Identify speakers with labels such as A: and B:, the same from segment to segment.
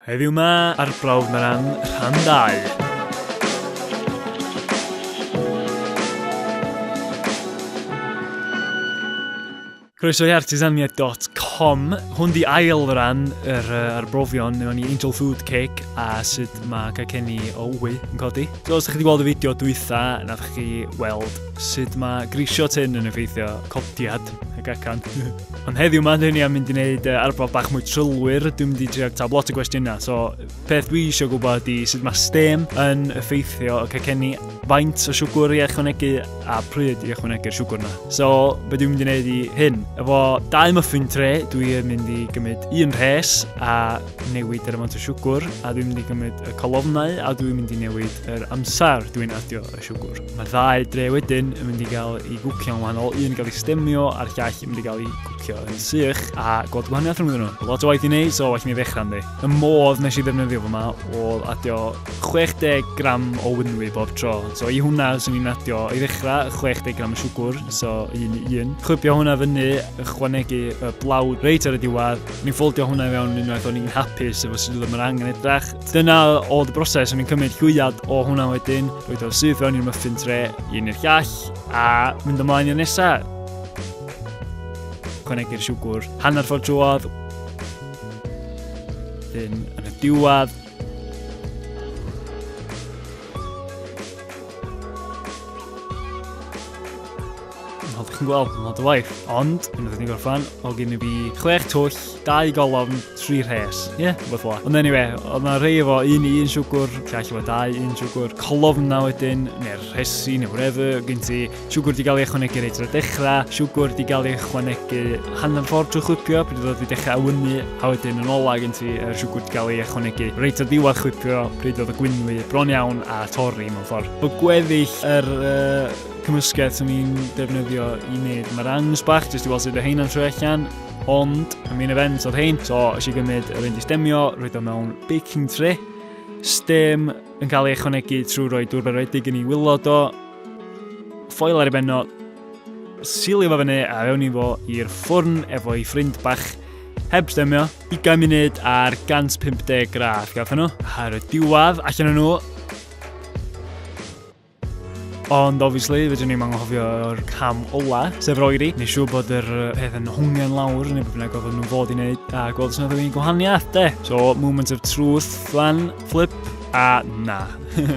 A: Heddiw 'ma ar Brawf Meran, rhan 2. Croeso i artisania.com. Hwn di ail ran yr, uh, ar brofion neu o'n i Angel Food Cake a sut mae cacenni o wy yn codi. So, os ydych chi wedi gweld y fideo dwytha, nad ydych chi weld sut mae grisio tyn yn effeithio codiad y gacan. Ond heddiw yma, dyn ni am mynd i wneud uh, arbrawf bach mwy trylwyr. Dwi'n mynd i trio tab lot o gwestiynau. So, peth dwi eisiau gwybod ydy sut mae stem yn effeithio y cacenni, faint o siwgr i ychwanegu a pryd i ychwanegu'r siwgr yna. So, be dwi'n mynd i wneud i hyn? Efo dau muffin tre, dwi'n mynd i gymryd un rhes a newid yr amount o siwgr, a dwi'n mynd i gymryd y colofnau a dwi'n mynd i newid yr amser dwi'n adio y siwgwr. Mae ddau dre wedyn yn mynd i gael ei gwcio'n wahanol, un yn cael ei stemio a'r llall yn mynd i gael ei gwcio yn sych, a gweld gwahaniaeth rhwng nhw. Lot o waith i wneud, so well mi ddechrau ynddi. Y modd nes i ddefnyddio fo ma oedd adio 60 gram o wynwy bob tro. So i hwnna, swn i'n adio i ddechrau 60 gram o siwgwr, so un i un. Chwybio hwnna fyny, ychwanegu y blawd reit ar y diwedd. Ni'n ffoldio hwnna i fewn unwaith o'n i'n hapus efo sut oedd yr angen edrach. Dyna oedd y broses, o'n i'n cymryd llwyad o hwnna wedyn, roed o'r syth fewn i'r muffin tre, un i'r llall, a mynd ymlaen i'r nesaf. Cwnegu'r siwgwr hanner ffordd drwodd, yn y diwedd, Fel chi'n gweld, mae'n lot o waith. Ond, yn ydyn ni'n gorffan, o gyn i fi chwech twll, dau golofn, tri rhes. Ie, yeah, beth fwa. Ond anyway, oedd yna rei efo un i un siwgwr, lle allu fo dau un siwgwr, colofn na wedyn, neu'r rhesi, neu whatever, gyn ti siwgwr di gael ei ychwanegu reit ar y dechrau, siwgwr di gael ei ychwanegu hanner ffordd trwy chwipio, pryd oedd wedi dechrau awynu, a wedyn yn ola gyn ti er siwgwr di gael ei ychwanegu reit ar ddiwedd chwipio, pryd oedd y gwynwy bron iawn a torri mewn ffordd. Bod gweddill yr uh, cymysgedd sy'n ni'n defnyddio i wneud merangs bach, jyst i weld sut y heina'n trwy allan, ond y main event oedd hein, so ys i gymryd yr un i stemio, roed o mewn baking tray, stem yn cael ei ychwanegu trwy roi dŵr berwedig yn ei wylod o, ffoil ar ei benno, sili fo fyny a fewn i fo i'r ffwrn efo ei ffrind bach, heb stemio, 20 munud ar 150 gradd, gafon nhw, ar y diwadd allan nhw, Ond obviously, fydwn ni'n anghofio'r cam ola, sef roeri. Nes siw bod yr peth yn hwngen lawr, neu bod bynnag oedd nhw'n fod i wneud, a gweld sy'n oedd gwahaniaeth, de. So, moment of truth, flan, flip, a na.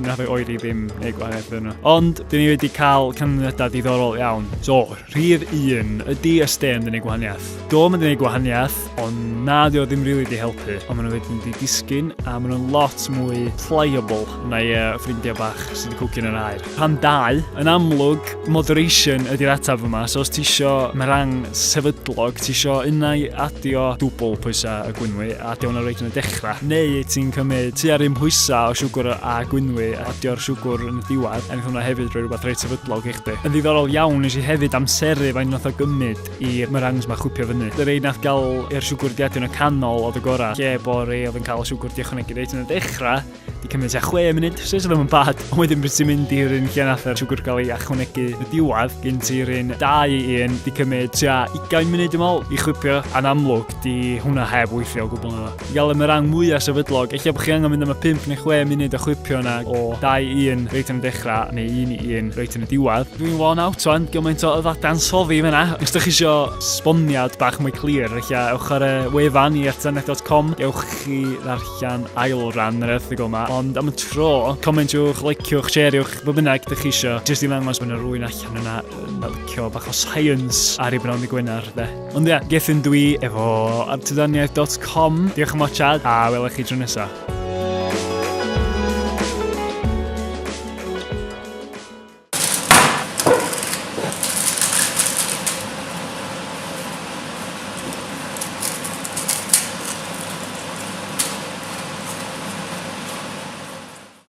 A: Nath o'i oeri ddim neu gwahaniaeth yno. Ond, dyn ni wedi cael canlyniadau diddorol iawn. So, Rhif un, ydy SDM yn gwneud gwahaniaeth? Do, mae'n gwneud gwahaniaeth, ond na, dio ddim rili really di helpu. Ond maen nhw wedyn di disgyn, a maen nhw'n lot mwy pliable na i uh, ffrindiau bach sydd wedi cwgyn yn air. Rhan dau, yn amlwg, moderation ydy'r ataf yma. So os ti isio merang sefydlog, ti isio unau adio dwbl pwysau y gwynwy, adio hwnna reit yn y dechrau, neu ti'n cymryd tu ar un pwysau o siwgr a gwynwy, a Dio'r siwgwr yn y diwedd, a wnaeth hwnna hefyd roi rhywbeth reit sefydlog i chdi. Yn ddiddorol iawn, nes i hefyd amseru faint nath o gymryd i'r meringues ma chwipio fyny. Y rei nath gael i'r siwgwr di adio'n y canol oedd y gorau, lle bo rei oedd yn cael y siwgwr di ychwanegu reit yn y dechrau, di cymryd tua 6 munud, sydd ddim yn bad, ond wedyn pryd ti'n mynd i'r un lle nath yr siwgwr gael ei ychwanegu yn y diwedd, gen ti'r un 2 i 1, di cymryd tua 20 munud dwi'n meddwl i chwipio, a'n amlwg di hwnna heb weithio o gwbl na. I gael am y rang mwyaf sefydlog, eich bod chi angen mynd am y 5 neu 6 munud o chwipio yna o 2-1 reit yn y dechrau neu 1-1 reit yn y diwedd. Dwi'n one out o'n gymaint o yddadan soddi fyna. Os ydych chi eisiau sboniad bach mwy clir, eich ewch ar y wefan i ertzanet.com, ewch chi ddarllen ail ran yr erthigol yma, ond am y tro, comentiwch, liciwch, shareiwch, fe bynnag ydych chi eisiau, jyst i ddangos bod yna rwy'n allan yna yn licio bach o science ar ei bnawn i gwynar, de. Ond ia, Gethin dwi efo artydaniaeth.com. Diolch am watchad a welwch chi tro nesaf.